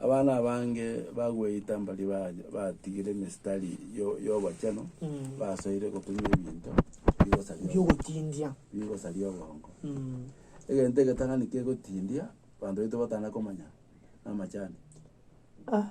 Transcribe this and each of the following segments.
Abana abange bagweita mbaria ba- batigire emesitari yo- y'obochenu, basoire gotumia ebinto bigosaria obo- biogotindia bigosaria obongo. Mm. Egento egetang'ani kegotindia abanto baito batana komanya namachani. Ah.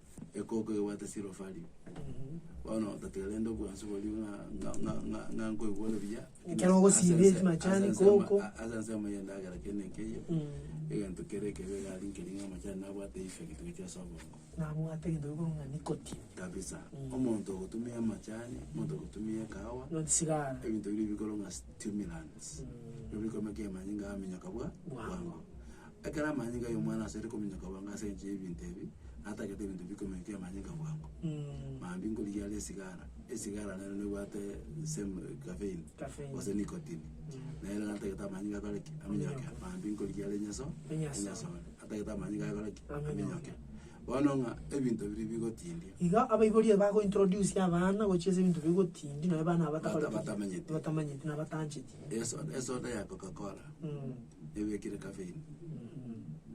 ekoko egobwate Silofari. Bono otatiga rende obwansu boria ng'a, ng'a, ng'a, ng'a, ng'a nkoigwa ore buya. Ekero Ase ogosiba ense- ase amachani, ense ama- koko. a- ase ense amaya endagera kere na ekeiyo, Mm. egento kere ekebe iga aria nkeri ng'a amachani nabwate eifyo egento egetwe ase obongo. Nabwate egento gekorwa ng'a nicotine. Kabisa. Mm. Omonto ogotumia amachani, omonto ogotumia ekahawa, Not sigara. ebinto biria ebikorwa ng'a stimulants. Mm. Nabikore amanyinga amenye kabua Bwango. bwango. Ekero amanyinga y'omwana asare kominyoka bwango ase enchera y'ebinto ebi, na atagete ebinto bi kominyoka y'amanyinga bwango, mambia nkorigia are esigara. Esigara nero nebwate same caffeine, Caffeine. gose nicotine. Nere natagete amanyinga akore ki? Aminyoke. Mambia nkorigia are enyaso, Enyasore. enyasore. Atagete amanyinga akore ki? Aminyoke. Aminyoke. Bono ng'a ebinto biria bigotindia. Igo abaibori aba bago introduce abana gochia ase ebinto bigotindia, nabo abana aba batakore ki? Bata- batamenyeti. Batamanyeti na batancheti. Esoda, esoda ya Coca-Cola. ebekire kafeini.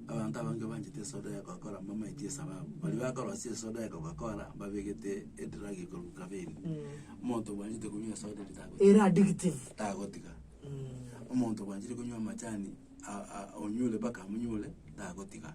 Abanto abange banchete esoda ya Coca-Cola mbamaeti esababu. Baria bakorwa ase esoda ya Coca-Cola mbabegete edrag ekorwa kafeini. Omonto obwanchete konywa esoda eri tago- Ere addictive. tagotiga. Omonto obwanchete konywa amachani a- a- onyure mpaka amonyure, tagotiga.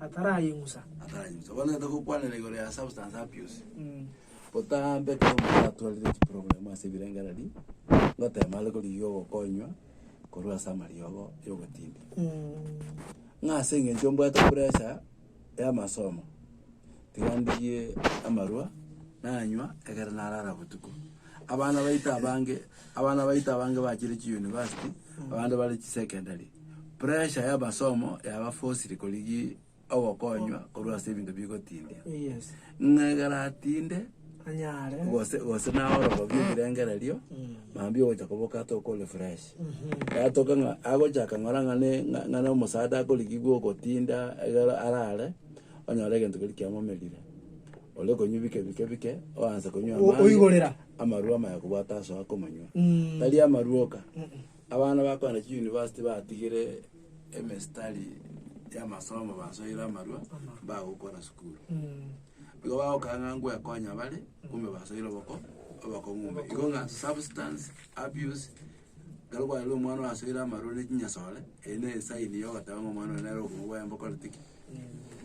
atarayeng'usa. ataranyusa bono tata gokwanera igoro ya substance abuse botambe ekero omonto atwarire chiprogramu ase ebirengererio ngotema are korigia ogokonywa korwa ase amariogo ya obotindu ng'a ase eng'encho mbwate pressure ya amasomo tiga ndigie amarwa nanywa ekero narara botuko abana baito abange Abana baito abange bachire chiyunivasiti, abande bare chisekendari. Pressure y'amasomo yabafosirie korigia ogokonywa korwa ase ebinto bigotindia. Yes. Ng'a egeratinde Anyare. gose gose naorobo bw'ebirengererio mambia ogocha koboka atoke ore fresh yatoka ng'a agochaka ng'ora ng'a ne- ng'a- ng'a nomosaada akorigia bwa ogotinda egere arare onyore egento keria kiamomerire ore konywa bike bike bike oanse konywa O- amache oigorera. amarwa amaya kobwata ase okomanywa, tari amarwa oka. Abana bakogenda chiuniversity batigire emestari y'amasomo basoire amarwa bagokora sukuru. Igo bagokora ng'a ngwekonya bare, kumbe basoire oboko obokong'u ime. Igo ng'a substance abuse Ekero bwarorire omwana oyo asoire amaroro ne chinyasore, eyio ne esaini ya ogoteba ng'a omwana oyo nere obokong'u bwaye mbokorete ki?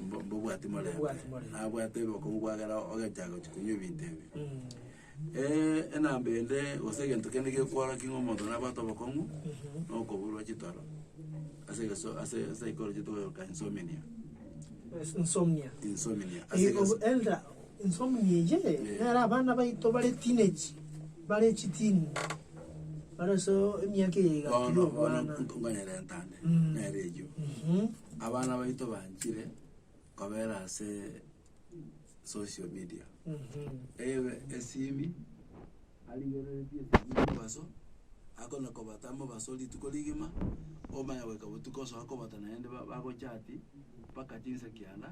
Mbo- mbobwati morembe. Mbobwati morembe. Abwate obokong'u bwa ekero ogachaka gochia konywa ebinto ebi. enamba ende gose egento kende gekworokia ng'a omonto nabwate obokong'u, na okoburwa chitoro ase egeso- ase esaikoroji tokoyoka insomnia. Insomnia. Insomnia, ase Eye egeso- obo- elder, Ensomoni eye nere abana baito bare teenage, bare chitiini, bare ase emiaka eye egati Bono, bono y'obwana. ntonganyare entane, Mm. nere eyio. Mhm. Abana baito banchire kobera ase social media. Mhm. Ebe esimi, arigereretie esimi mobaso, akona kobata mobaso rituko rigima, omanya goika botuko osoa kobata naende ba- bagochati, mpaka chinsa kianda.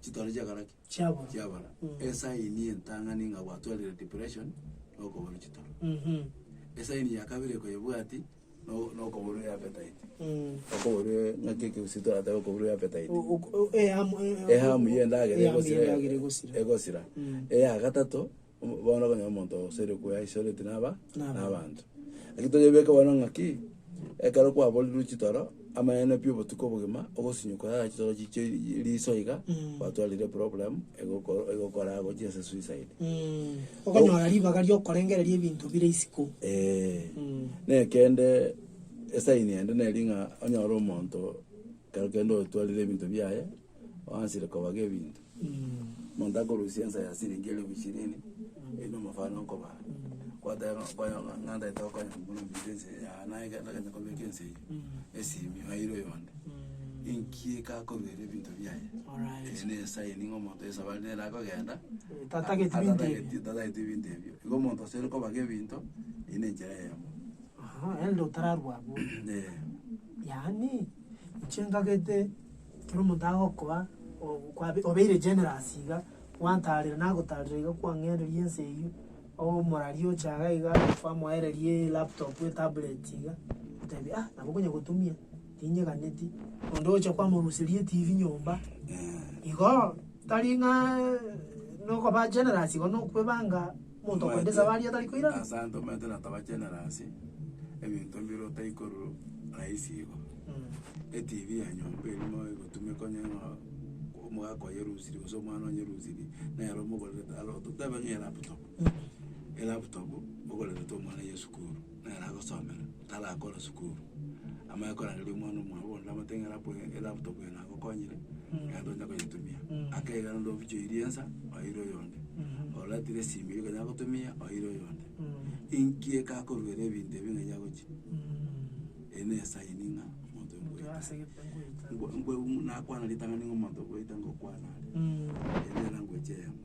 chitore chiakora ki? Chiabora. chiabora Mm. esaini entang'ani ng'a gwatwarire depression na okoborwa chitoro Mhm. esaini ya kabere ekoyebwati no- nokoborwa eappetite Mm. okoborwa ng'aki ekegusii toratebe okoborwa eappetite O- o- o- ehamu- e- ehamu y'endagera ehamu egosira y'endagera egosira. egosira Mm. eya gatato Bono okonyora omonto oseria okweisoreti naba nabanto. Naki toyebeke bono ng'aki, ekero kwaborirwe chitoro, amaene pi obotuko obogima, ogosinyuka yaya chitoro chichio riso iga, gwatwarire problem egokoro egokora gochia ase suicide. Okonyora ribaga riokorengereria ebinto bire isiko. Eeh. Mm. Na ekende esign ende neri ng'a onyore omonto kero kende otwarire ebinto biaye, oansire kobaga ebinto. Monto akorusia ensa ya siringi elifu ishirini, eyi nomofano okobaa, kwateba ng'a okonya ng'a ng'antaete gokonya kobuna ominto ense eye yaaye, naye kende agancha kobeka ense eywo esimi aire oyonde, inki ekakoruera ebinto biaye? Alright. Eye nesaini ng'a omonto yeso abare nere akogenda Tatageti binto ebio. atatageti tatageti ebinto ebio. Igo omonto ase ore kobaka ebinto, eyio na enchera eyemo. Aha, ere nde otararwa abwo. Eeh. Yaani, inche ngagete. Ekero omonto agokoa, o- kwabe obeire generous iga, gwantaarera nagotaarera iga kwang'enderia ense eyio, omorari oche iga iga kwamoereria elaptop etablet iga, otebia ah nabo okonya gotumia, tinyeganeti, onde oche kwamoruseria etibi nyomba, igo, tari ng'aa nokoba generous igo nokwebanga. Omonto okoenda esabaari Omanyete, atari koirana. Ase abanto omanyete na taba generous, ebinto mbire otaikorwa rahisi igo. ETV ya nyomba eria moe egotumeka onye ng'a omogaka oyerusirie gose omwana onyerusirie, nere omogorerete aro totebe ng'a elaptop, elaptop, mogorerete omwana ye esukuru. nere agosomera, tarakore sukuru, amanye korangeria omwana omwabo bonde amotebie ng'a rapu eye elaptop eye nagokonyire, genda onye koyetumia. Akeiga rende ofiche oirie ensa, oeire oyonde, oretire esimi eria okonyara gotumia, oeire oyonde. Inki ekakoruera ebinto ebi ng'a yagochia? Eye ne esaini ng'a omonto oyo ngoeta. Nkwe- nkwe- nakwana ritang'ani ng'a omonto ngoeta ngokwana are, ere nere angochia eyemo.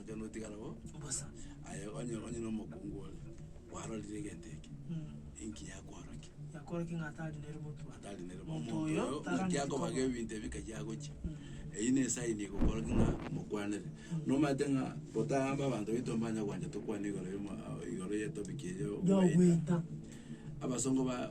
Igo notigara bo Bosa. aye onye onye na omokungu ore, kwarorire egento eke, Mm. inki yakworokia? Yakorokia ng'a tari nere motwe. Atari nere bo Omonto omonto oyo oyo, tara naki akobaga nkoba. ebinto ebi nkachi agochia. Mm. Eyio ne esaini egokorokia ng'a mokwanere. Nomanyete ng'a botambe abanto baito mbanya gwancha tokwane igoro yoma igoro ye topic eyio Yogoita. Abasongo ba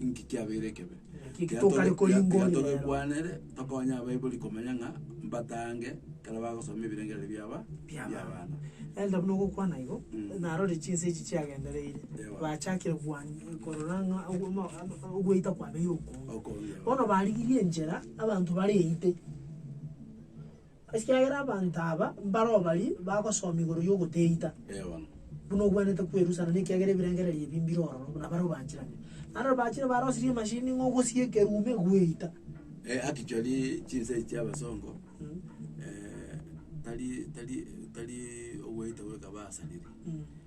Inki kiabeire ekebe? Naki Tiga tokare tobe- koyia tiga- tiga ngori tobe yabo. kwanere, tokonye abaibori komanya ng'a mbatange ekero bagosoma ebirengererio biaba bia abana. Elda buna ogokwana igo, Mm. narore chinsa echi chiagendereire, Ewa. bachakire kwania korora ng'a ogo- omo- ama- ogweita kwabeire okonge. Okonge, ewa. Bono barigirie enchera abanto bareite. Ekiagera abanto aba mbaroo baria bagosoma igoro y'ogoteita, buna ogwenerete kwerusana, na ekiagera ebirengererio ebi mbire ororo, buna bare obanchiranire. Naende riroba bachire barosirie emashini ng'a ogosie ekerume gweita. Actually chinsa echi chiabasongo tari tari tari ogweita goika basariri.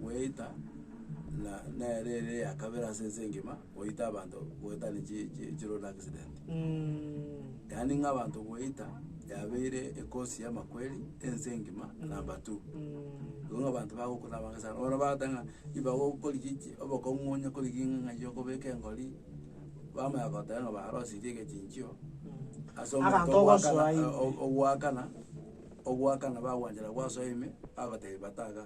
gweita, na nere ere ya kabere ase ense engima goita abanto goetania chi- chi- chi road accident. Yaani ng'a abanto gweita, yabeire ekosi ya amakweri ense engima number two. Igo ng'a abanto bagokwa na abange sana, bono bagoteba ng'a ribago korigia echi obokong'u onye korigia ng'a ng'ai okobeka engori, bamanya goteba ng'a barosirie egechinchio ase omonto Abanto ogoakana ogosoa ime. o- ogoakana. Ogoaka ng'a bagwanchera gwasoa ime, bagotebi bata iga,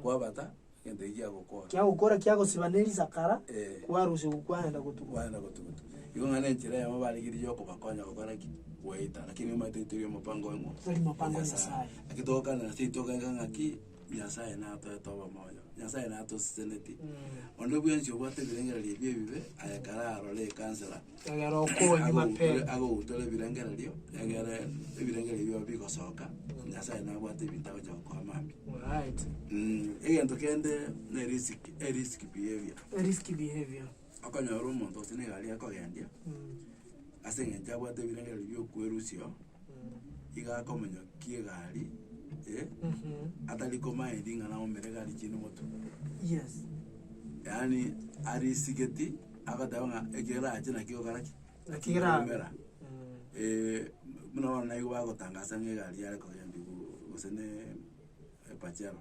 kwabata, egento eki giagokora. Kiagokora kiagosiba ne risakara, Eh. kwarusia oku kwagenda gotuguta. Kwagenda gotuguta. Igo ng'a nechera eyemo baregereire yokobakonya gokora ki? Goeta. Lakini nigo omanyete teri omopango oimo. Teri mopango o Nyasae. Eki togokanera nase eki togaika ng'aki, Nyasae natoete obomoyo, Nyasae natosiseneti. Onde bwensi obwate ebirengererio ebi ebibe, aye kare arore ekansera, Egera okonye mapema. Agogutora ebirengererio, egere ebirengererio bibao bigosoka, Nyasae nabwate ebinto agocha gokoa mambia. Alright. Mm, egento kende ne risk, e risk behaviour. A risky behavior. Okonyora omonto gose na egari akogendia, Mm. ase eng'encho abwate ebirengererio bia okwerusia oo, iga akomonyokia egari eye, Mhm. atari komanya ring'ana aumere egari chinde moto. Yes. Yaani arisigeti agoteba ng'a ekerache nakio ogokora ki? Naki kera- Omera. Mm. buna bono naigwe bagotangasa ng'a egari yare kogenda igoro gose ne epachero.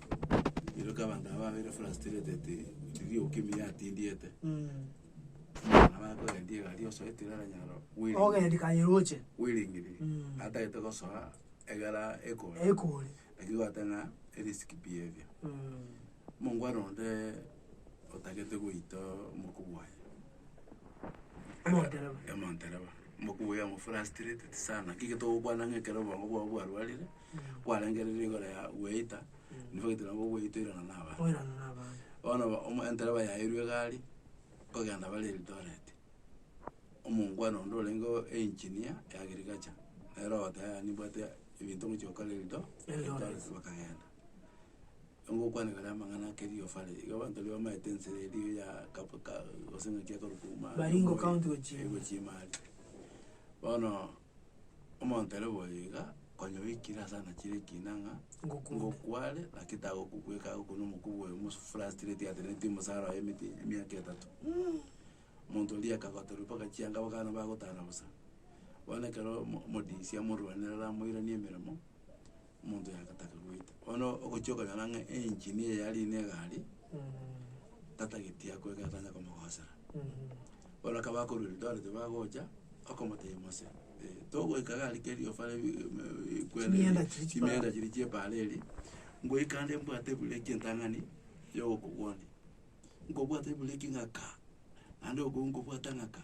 Rirorio abanto aba babeire frustrated, riria Okemi yatindiete, abana bakogendia egari osoeti rero nyaro bwire Ogendi kaye roche. bwirigiri Mm. atagete gosoa egera ekore Ekore. lakini gwateba ng'a erisk behaviour Mm. mongwana onde otagete goita omokubi oye Omontereba. omontereba omokubi oye amo frustrated sana naki gete ogokwana ng'a ekero obongo bwao bwarwarire. kwarengereire igoro ya gweita, nibagete nabo gweita oirana na abana. Oirana na abana. Bono ba- omo entereba yaeirwe egari, kogenda bare Eldoret, omongwana onde orenge o- engineer ya agriculture, nere ogoteba yaya nimbwate ebinto ngochia gokora Eldo- Eldoret. bakagenda. Ngokwanera ere amang'ana ake riofa are, iga abanto riria bamaete ensera eria ya kapu ka gose ng'aki ekorokwa omwaro. Baringo county gochia ime. Egochia ime aria. Bono. Omonto ere boyo iga, konya oikire ase anachire ekina ng'a Ngokunde. ngokware, naki tagokobweka agokunda omokubwa oyo omosu frustrate ateneneti omosara oye emete emiaka etato. Omonto oria akagoterwa mpaka chianga abana bagotara bosa. Bono ekero omo- omodisi amorwanera amoiranie emeremo, Omonto oyo agataka goita. Bono ogochia okonyora ng'a engine eye ya rina egari, tatageti aa kwega etanya komogosera. Bono ekero bakorwa Eldoret bagocha, okomotebia Mose, togoika egari keria ofare bi- bi- kwere- Chimianda chiria chipara. chimianda chiria chia ebara eria, ngoika ande mbwate ebureki entang'ani yogokogwonia. Nkobwate ebureki ng'aka, naende okoigwa nkobwata ng'aka,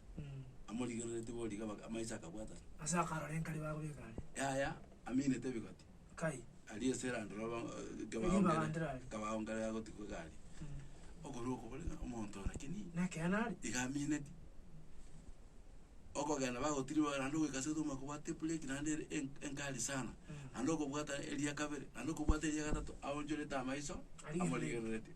amorigereretie boria iga baka amaiso akabwatana. Ase akarora enkari bagobeka are. Yaya, aminete ebigoti. Kai. Aria ase eranda roba Erio ebanga ndire aria. kebago nkare agotigwa iga aria. Okorwa okobore ng'a omonto oo lakini. Nekeene are. Iga amineti. Okogenda bagotiri bare naende ogoika ase otomwa kobwate ebureki naende ere en- enkari sana. Naende okobwata eria kabere, naende okobwata eria gatato aonchorete amaiso. Arigereretie. Amorigereretie.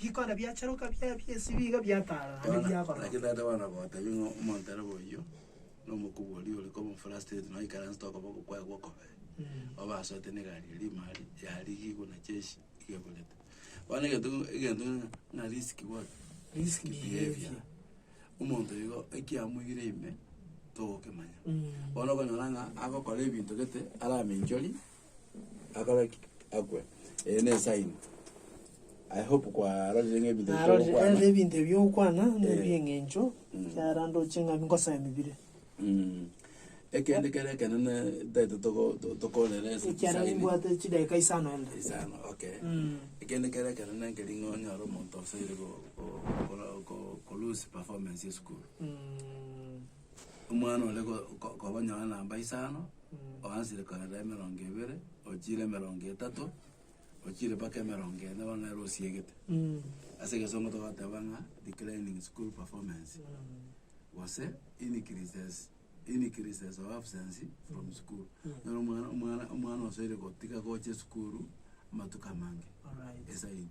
Bikona biacheroka bia biesibio iga biatarana Bono, naki biakorokire. tata bono gogotebi ng'a omonto ere boyio, na omokubori ore koba omofrustrate, na oikaranse tokoba okokwaya gw'okobee, obasoete na egari eria imari, yarigigwe na chechi iga eburete. Bono egento keke egento keke ng'a risk what? Risk behavior. Omonto igo ekiamoigire ime, togokemanya. Bono okonyora ng'a agokora ebinto gete, aramenchorie, akore akwe. Eye ne sign. I hope kwarorire ng'a ebinto Narorire eh, bichokwana. ebinto ebi okwana Eh. nebieng'encho Mm. kiara ndoche ng'a nkosaya mibire Mm. Ekende kere ekenene taete toko- to- tokorera ase ekiara sign. nimbwate chidakika isano ende Isano, okay. Mm. Ekende kere ekenene nkeri ng'a onyore omonto osoire go- go- gokora- go- ko- lose performance ya esukuru. Mm. Omwana ore ko- ko- kobanyora namba isano, oansire korera emerongo ebere, ochiire emerongo etato, ochiire mpaka emerongo ene, bono nere osiegete. Ase egesongo togoteba ng'a declining school performance, gose increases increases of absence from school. Nere omwana omwana omwana osoire gotiga gocha esukuru amatuko amange. Alright. Esaino.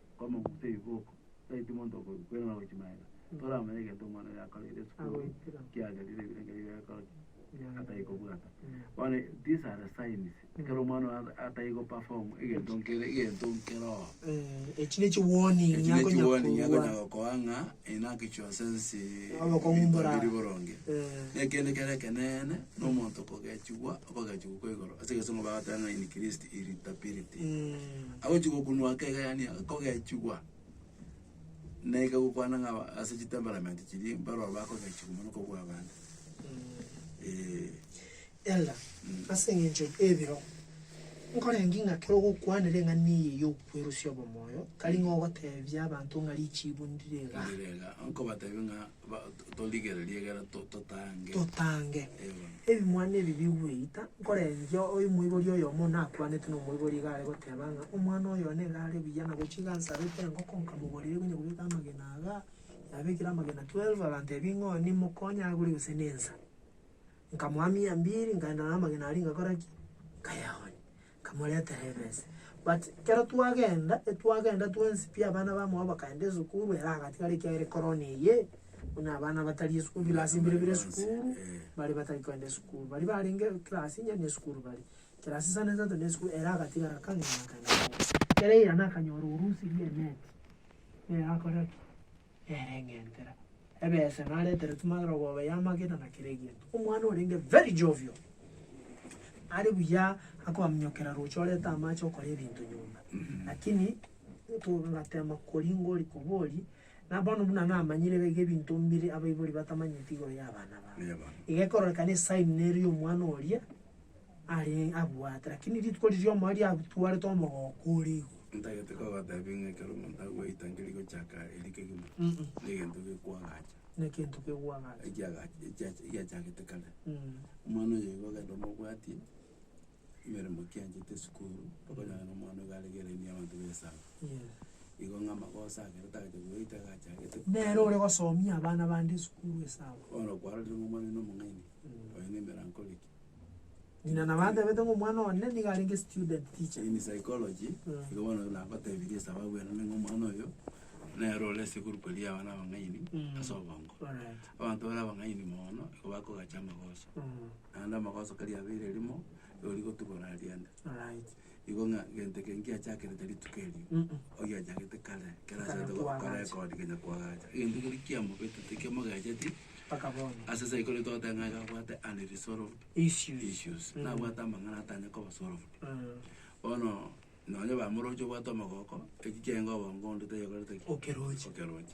Kw'amaguta y'ebiboko, tari monto okorwa kwere na gochi magega. Toramanya egento omwana oyo akoreire esukuru kiagerire ebirengerio bia gokora ki? Atari kobwata. Bono these are the signs ekero omwana oyo at- atari go perform egento nkere egento nkerogo. Eh, echi nechi warning Eki nechi akonya warning korwa. akonya gokoa ng'a oyo nakichia osensi Abakong'u ebinto mboraa. biri boronge. Eh. Na ekende kere ekeneene, na omonto kogechigwa Bagachia gokwa igoro ase egesemo bagateba ng'a in Christ irritability. Agochia gokunwa ake iga yaani kogechigwa, na iga gokwana ng'a aba ase chitemperament chiria mbarobwo bakogechigwa mono kobua abande. Eeh. Elder, ase eng'encho ebiro nkorenge ng'a kero ogokwana ring'ana eye ya okwerusia obomoyo, tari ng'a ogotebia abanto ng'a richibu ndire igaa. Ndire igaa, nkobatebia ng'a Ba- to- torigererie ekero to- totange. totange Ee bono. ebimwana ebi bigweita, nkorengia oimoibori oyomo nakwanete na omoibori iga are goteba ng'a omwana oyo one iga are buya na gochia iga nsarete engoko nkamogorera eria onye kobeka amagena iga, yabekire amagena twelve agantebia ng'a oyo nimokonye agure gose na ensa. Nkamoa mia mbiri nkaenda na amagena aria ngakora ki? Nkayaonia. Nkamoretera ebese. But ekero twagenda, etwagenda twensi pi abana bamwabo bakagenda esukuru, ere agatigara ekiagera ekorona eye, buna abana batari esukuru, bilasi mbire bire esukuru, bare batari kogenda esukuru. Baria barenge class inye na esukuru baria. Class isano isato na esukuru, ere agatigara akang'ina akagenda. Ekero yaira nakanyora orusi ri'emeti, nere agakora ki? Nere eng'entera. Ebese naretere tumagere obobe ya magena na kera egento. Omwana orenge very jovial. Are buya akobaminyokera roche orete amache okore ebinto nyomba. Lakini to ngatema kori ngori kobori na bono buna namanyire iga ebinto mbire abaibori batamanyeti igoro ya abana babo. Iga ekororekana esign nero ya omwana oria. Are abwate, lakini rituko riria omoyo riatwarete omogooko ore igoro. Ntagete kogotebia ng'a ekero omonto agweita nkeri gochaka eri kegima, Mm-mm. negento gekwagacha, Nekinto kekwagacha. ekiagacha ekiacha egiachagete kare. Mm. Omwana oyo igo ogenda omobwatie, emeremo ki anchete esukuru, okonyora ng'a omwana iga arenge elaini ya abanto ba esaaba. Yes. Igo ng'a amagoso ake ekero tagaete goita iga achagete. Nere ore gosomia abana bande esukuru esaaba. Bono okwarorire ng'a omwana oino nomong'aini, Mm. oyo na emeranko ore ki? Ng'ina nabo atebete ng'a omwana one nigo arenge student teacher. In psychology, Mm. igo bono nagotebirie esababu enene ng'a omwana oyo, nere ore ase egroup eria y'abana abang'aini Mm. ase obongo. Alright. Abanto bare abang'aini mono, nigo bakogacha amagoso. Mm. Naende amagoso kari abeire rimo, nigo rigotugora riende. Alright. Igo ng'a gento eke nkiachakerete rituko erio, Mm-mm. ogiachagete kare, ekero Ekero asete gokora twagacha. record kenya kwagacha. Egento keria kiamobetete kiamogecheti, Mpaka bono. ase esegi kore togoteba ng'a iga abwate unresolved Issues. issues, Mm. nabwate amang'ana atanye koba solved. Mm. Bono nonye bamoroche obwate omogoko, echi chiaenga obongo onde tayekorete ki? Okeroche. Okeroche.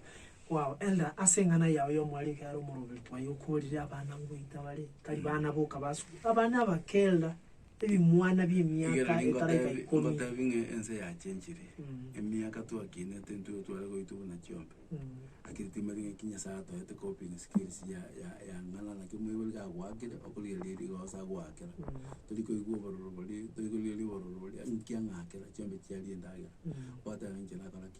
Wow, Elder, ase eng'ana yao ya omwari iga are omoroberi twaye okorire abana ngoita bare, tari bana boka basuku. Abana aba kera Ebimwana bi'emiaka Rigereria etaraika ngotebi- ikomi. ngotebi ng'a ense yachenchire, Mm. emiaka twakinete intwe igo tware goitwa buna chiombe. Mm. Lakini timanyeti ng'aki Nyasaye atoete coping skills ya- ya- yang'ana naki omoibori kagoakire, okorigereria rigo gose agoakera. Mm. Tori koigwa obororo boria, tori korigereria obororo boria, inki ang'akera, chiombe chiaria endagera. Mm. Gwateba ng'a inche nakora ki?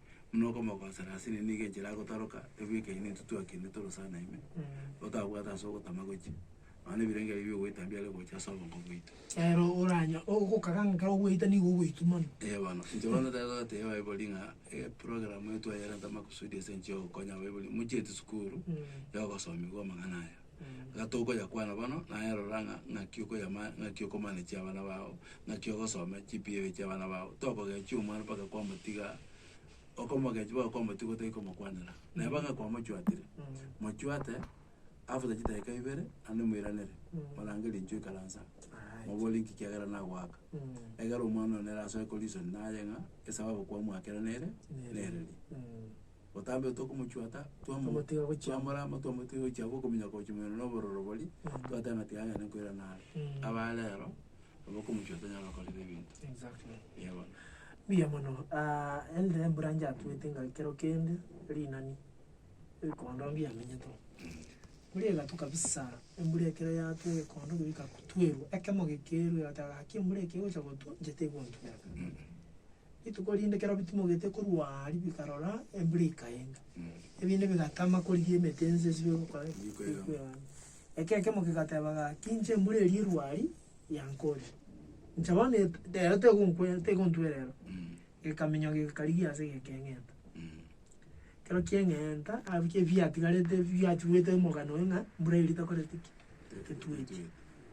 Buna okomoka gose rasini nigo enchera agotoroka, ebu ekenyene intwe twakende toro sana ime, gotabwate ase ogotama gochia, nonya na ebirengererio bia ogoita mbiare gocha ase obongo bwaito. Ero oranya ogoka gaka ekero ogoita nigo ogoitumana. Ee bono, intwe bono tari togotebia abaibori ng'a eprogramu eye twayerenta amakusudi ase enchera ya ogokonya abaibori, mochieti sukuru, ya ogosomigwa amang'ana aya. Iga tokoyakwana bono, naye rora ng'a ng'aki okoyama ng'aki okomanechi abana bao, ng'aki ogosoma chipigo echi chiabana bao, tokogechia omwana mpaka kwamotiga, okomogechi mpaka kwamotiga otari komokwanera. Naye mpaka kwamochwatire, mochwate after chidakika ibere, naende moiranere, morange rinche oikaransa, mobore inki kiagera nagoaka. Egere omwana one nere asoe ko reason naye ng'a esababu kwamoakera nere nere eri. Botambe tokomochwata, twamo- Tomotiga gochiama. twamorama, twamotiga gochiama okomenya kochia moyoro na obororo boria, twateba ng'a tiga agende nkoirana are. Mm. Aba rero, nabo okomochwata onyare gokorera ebinto. Exactly. Eeh bono. Mbuya mono, ah, ende embura nchatuete ng'a ekero kende, rinani, ekondo mbuya emenyete oo. Mbura egatu kabisa, embura ekero yatwa egekondo kegika kutwerwa, ekemo gekerwe, egoteba ng'a haki embura eke egocha gotwa, inche tegonturera. Rituko rinde keroo bitimogete korwa aria bikarora embura ikaenga, ebinde bigatama korigia emete ense esibie gokora ki? Gokwegama. Ekero kemo kegateba gaki, inche embura eria erwe aria yankoria, inche bono et- rero tegonkwe- tegontwe rero. Gekaminyoka gekarigia ase gekeng'enta. Ekero kieng'enta, abwo ebiatigarete biachuete omogano oye ng'a mbura eria takoreti ki? Tetweti.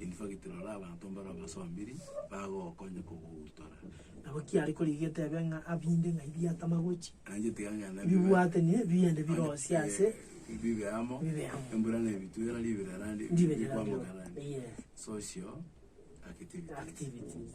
In fact, rora abanto mbare abasombiri, bagogokonya kogogutora. Nabo ki are korigia etebe ng'a abinde ng'ai biatama gochi? Nainche tiga ng'a na bibe- Bibwate ni biende birosie ase Eh, bibe amo, bibe amo. embura nebitwera, ribera randi- Ndibere rikwamoka randi. randi. Yes. Social activities. Activities.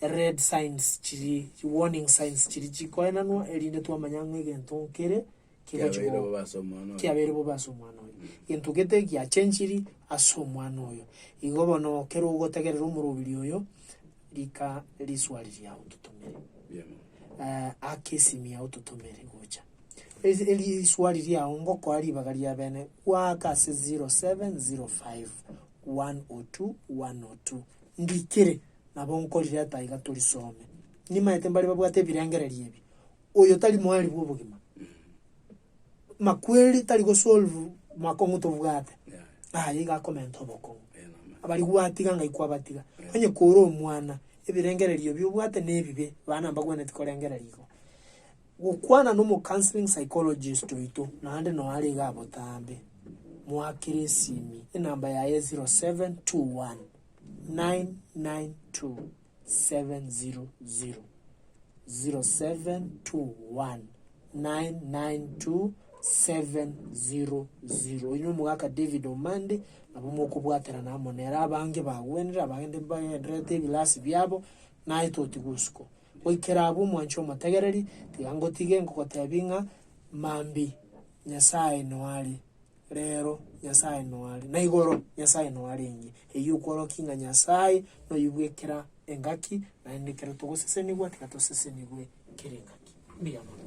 ered signs chiri, chiwarning signs chiri chikoenanwa, erinde twamanya ng'a egento nkere kigochi Kiabeire bo- bobe ase omwana oyo. kiabeire bobe ase omwana oyo gento gete giachenchiri ase omwana oyo igo bono ekero ogotegerera omorobiri oyo rika riswari riao ototomere Mbuya mono. eh, ake esimi yao ototomere gocha Eri- eri riswari riao ngokoa ribaga ria bene gwaaka ase 0705 102 102 ndikire Nabo nkorireta aiga torisome. Nimaete mbaria babwate ebirengererio ebi, oyo tari moari bw'obogima. Makweri tari gosolve makong'u tobwate. Aye iga akomenta obokong'u. Abari gwatiga ngai kwabatiga. Onye kore omwana, ebirengererio ebi obwate nebibe, bana mbagwenereti korengereria igo. Gokwana nomocounseling psychologist oito, naende noo are iga abotambe, mwakere esimi, enamba yaye 0721 0722700700 Inwe omogaka David Omande nabo mokobwaterana amo nere abange bagwenire abande mbagendererete ebilasi biabo naye toti gosuko goikera abwo mwanche omotegereri tiga ngotige ngogotebi ng'a mambi Nyasaye noare Reero Nyasae noare, na igoro Nyasae noarenge. Eyio okworokia ng'a Nyasae noyigwe ekera engaki, naende ekero togosesenigwa tiga tosesenigwe kera engaki. Mbuya mono.